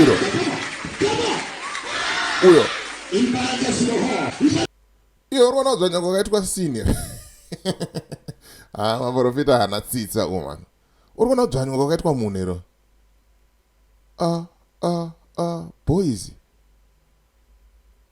Iro. Uyo. Iyo uri kuona kudzvanya kwakaitwa senior. Ah, maprofita hana tsitsa uma. Uri kuona kudzvanya kwakaitwa munhu iro. Ah, ah, ah, boys.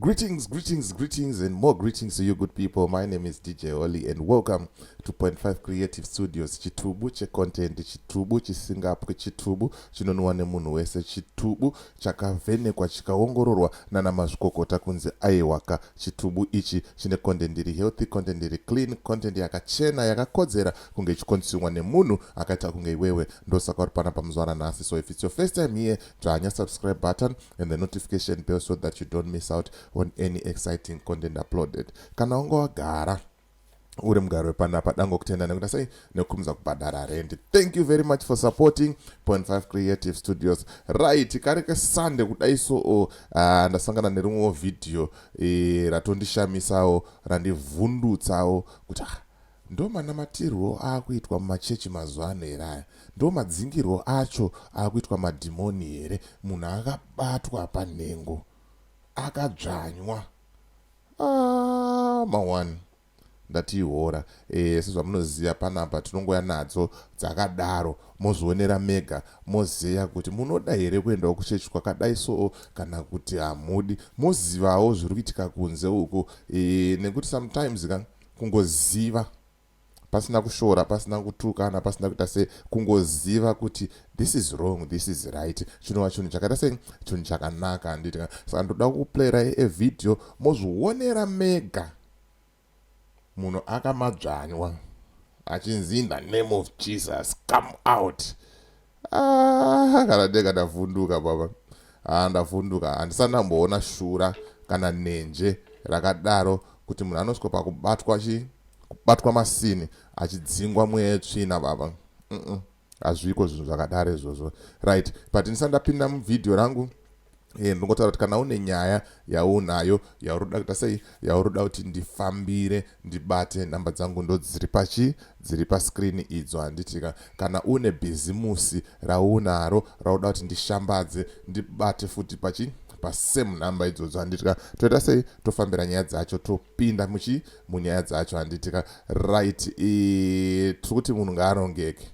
Greetings, greetings, greetings, and more greetings to you, good people. My name is DJ Oli, and welcome to Point Five Creative Studios. Chitubu che content, chitubu chisingapwe, chitubu chinonwa nemunhu wese, chitubu chakavenekwa chikaongororwa nana mazvikokota kunzi aiwaka. Chitubu ichi chine content iri healthy, content iri clean, content yakachena, yakakodzera kunge ichikonsumwa nemunhu akaita kunge iwewe. Ndosaka uri pana pamuzwana nhasi. So if it's your first time here, dzvanya subscribe button, and the notification bell so that you don't miss out on any exciting content uploaded kana wanga wagara uri mugari wepanapa dango kutenda nekuda sei nekukumza kubhadhara rendi thank you very much for supporting point five creative studios right kari kesande kudai so uh, ndasangana nerimwewo vhidhiyo e, ratondishamisawo randivhundutsawo kuti ah, Ndomanamatirwo aakuitwa mumachechi mazuva ano here aya? Ndomadzingirwo acho akuitwa madhimoni here? Munhu akabatwa panhengo akadzvanywa aah ma one ndati ihora eeh sezvamunoziva panapa tinongouya nadzo dzakadaro mozvionera mega mozeya kuti munoda here kuendawo kuchechi kwakadai soo kana kuti hamudi mozivawo zviri kuitika kunze uko eeh nekuti sometimes ka kungoziva pasina kushora pasina kutukana pasina kuita se kungoziva kuti this is wrong this is right chinova chinhu chakaita se chinhu chakanaka handiti saka ndoda kuplayera evideo mozvionera mega munhu akamadzvanywa achinzi in the name of jesus come out ah, kana ndega ndavhunduka baba ah, ndavhunduka handisati ndamboona shura kana nenje rakadaro kuti munhu anosvika pakubatwa chi kubatwa masini achidzingwa mweya yetsvina baba hazviko zvinhu zvakadaro izvozvo right but ndisati ndapinda muvhidhiyo rangu Eh, ndingotaura kuti kana une nyaya yaunayo yauri kuda kuita sei yauri kuda kuti ndifambire ndibate nhamba dzangu ndo dziri pachi dziri paskrini idzo handitika kana une bhizimusi raunaro rauda kuti ndishambadze ndibate futi pachi pasame number idzodzo handitika toita sei tofambira nyaya dzacho topinda muchi munyaya dzacho handitika right e, tiri kuti munhu ngaarongeke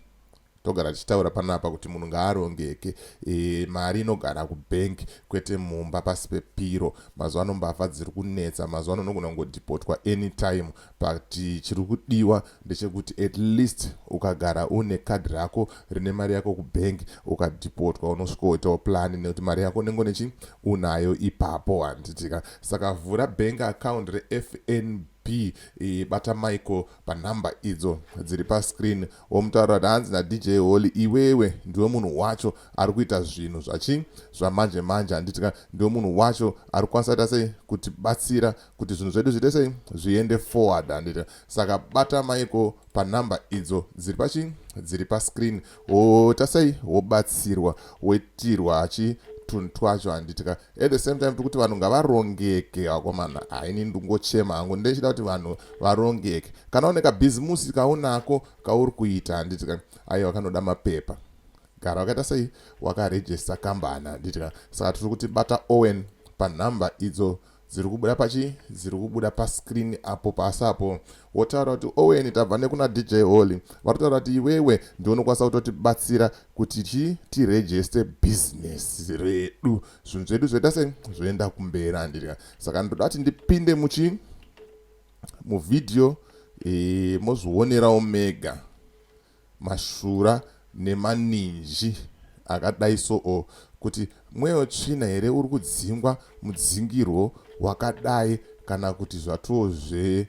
Togara tichitaura panapa kuti munhu ngaarongeke e, mari inogara kubank kwete mumba pasi pepiro. Mazuva ano mbavha dziri kunetsa, mazuva ano unogona kungodhipotwa anytime but chiri kudiwa ndechekuti at least ukagara une kadhi rako rine mari yako kubank ukadhipotwa unosvikoitawo plani nekuti mari yako unenge nechi unayo ipapo handitika saka vhura bank account refnb b e, bata michael panhamba idzo dziri pascreen Womutaurira kuti hanzi naDJ Holy iwewe ndiwe munhu wacho ari kuita zvinhu zvachii zvamanje manje handiti ka ndiwe munhu wacho ari kukwanisa ita sei kutibatsira kuti zvinhu zvedu zviite sei zviende forward handiti ka saka bata maiko panhamba idzo dziri pachii dziri pascreen woita sei wobatsirwa woitirwa achii tunhu twacho handiti ka at the same time tiri kuti vanhu ngavarongeke vakomana haini ndingochema hangu ndechida kuti vanhu varongeke kana une kabhizimusi kaunako kauri kuita handiti ka aiwa kanoda mapepa gara wakaita sei wakarejista kambani handiti ka saka tiri kuti bata owen panhamba idzo dziri kubuda pachi dziri kubuda pascreen apo pasi apo wotaura kuti owen tabva nekuna dj holy vatotaura kuti iwewe ndiunokwanisa kutotibatsira kuti chii tiregeste bhizinesi redu zvinhu zvedu zvoita sei zvoenda kumberi handiti ka saka ndoda kuti ndipinde muchi muvhidhiyo e, mozvionerawo mega mashura nemaninji akadai so o kuti mweyo tsvina here uri kudzingwa mudzingirwo wakadai kana kuti zvatoo zve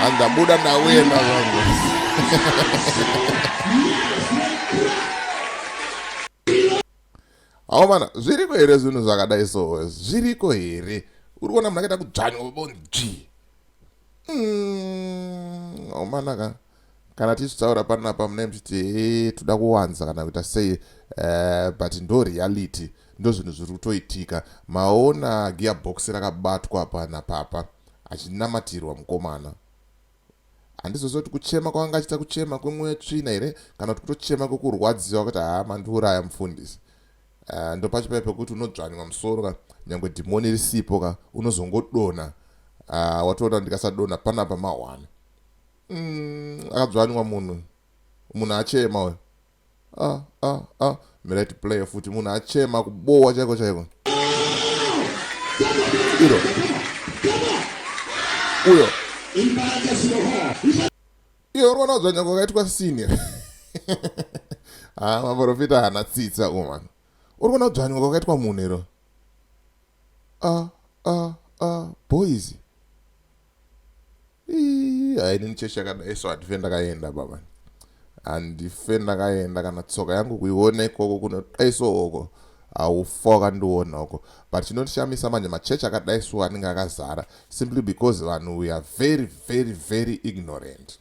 hanzi ndabuda ndauenda zvangu hawo mana zviriko here zvinhu zvakadai so zviriko here uri kuona munhu akaita kudzvanywa bonji hawo hmm, mana ka Kana tichitaura panapa mune muchiti hee toda kuwanza kana kuita sei uh, but ndo reality ndo zvinhu zviri kutoitika maona gearbox rakabatwa pana papa achinamatirwa mukomana handizoziva kuti kuchema kwanga achiita kuchema kwemweya tsvina here kana kuti kutochema kwekurwadziwa kuti haa mandiuraya mufundisi uh, ndo pacho paye pekuti unodzvanywa musoro ka nyange dhimoni risipo ka unozongodona uh, watoona ndikasadona panapa mawana mm, akadzvanywa munhu munhu achema uyo ah, ah, ah. mirati player futi munhu achema kubowa chaiko chaiko iro uyo iyo uri kuona kudzvanywa kwakaitwa senior ha ah, maprofita hana tsitsa uman uri kuona kudzvanywa kwakaitwa munhu iro ah, ah, ah, boys hainini chechi yakadai so handife ndakaenda baba handife ndakaenda kana tsoka yangu kuiona ikoko kunodai so oko haufa wakandiona uko but chinondishamisa manje machechi akadai so anenge akazara simply because vanhu we are very very very ignorant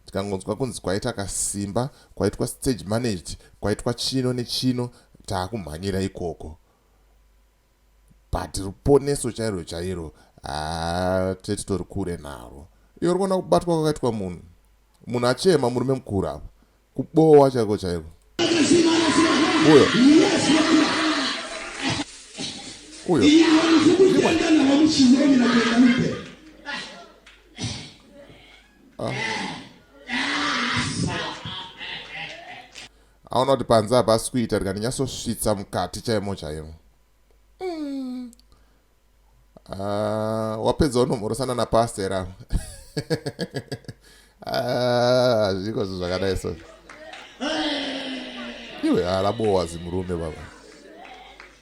tikangonzwa kunzi kwaita kasimba kwaitwa stage managed kwaitwa chino nechino taakumhanyira ikoko but ruponeso chairo chairo haa tete tori kure naro iyo rikuona kubatwa kwakaitwa munhu munhu achema murume mukuru apo kubowa chaiko chaiko uyo uyo ah. Aona kuti panze hapasi kuita rega ndinyatsosvitsa mukati chaimo chaimo. Mm. Uh, wapedza unomhorosana napastor avo. Ah, zviko zvo zvakadai so. Iwe alabowa zimurume baba.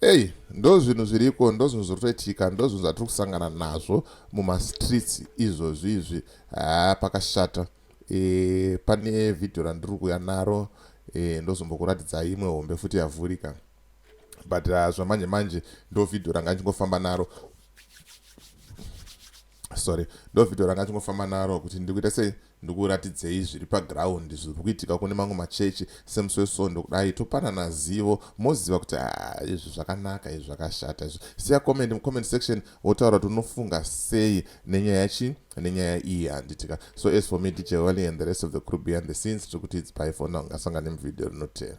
Hey, ndozvinhu zviriko ndozvinhu zvirikutoitika ndozvinhu zvatiri kusangana nazvo mumastreets izvozvi izvi haa pakashata e, pane vhidhiyo randiri kuuya naro e, ndozombokuratidza imwe hombe futi yavhurika but uh, zvamanje manje ndo vhidhiyo ranga ndichingofamba naro sorry ndo vhidhiyo ranga ndichingofamba naro kuti ndiri kuita sei Ndikuratidzei zviri paground zviri kuitika kune mamwe machechi semusi wesvondo kudai topanana zivo moziva kuti haa izvi zvakanaka izvi zvakashata izvi. Siya comment mucomment section wotaura kuti unofunga sei nenyaya yachi nenyaya iyi handitika. So as for me DJ Wally and the rest of the crew behind the scenes tiri kuti it's bye for now ngasangane muvideo rinotera.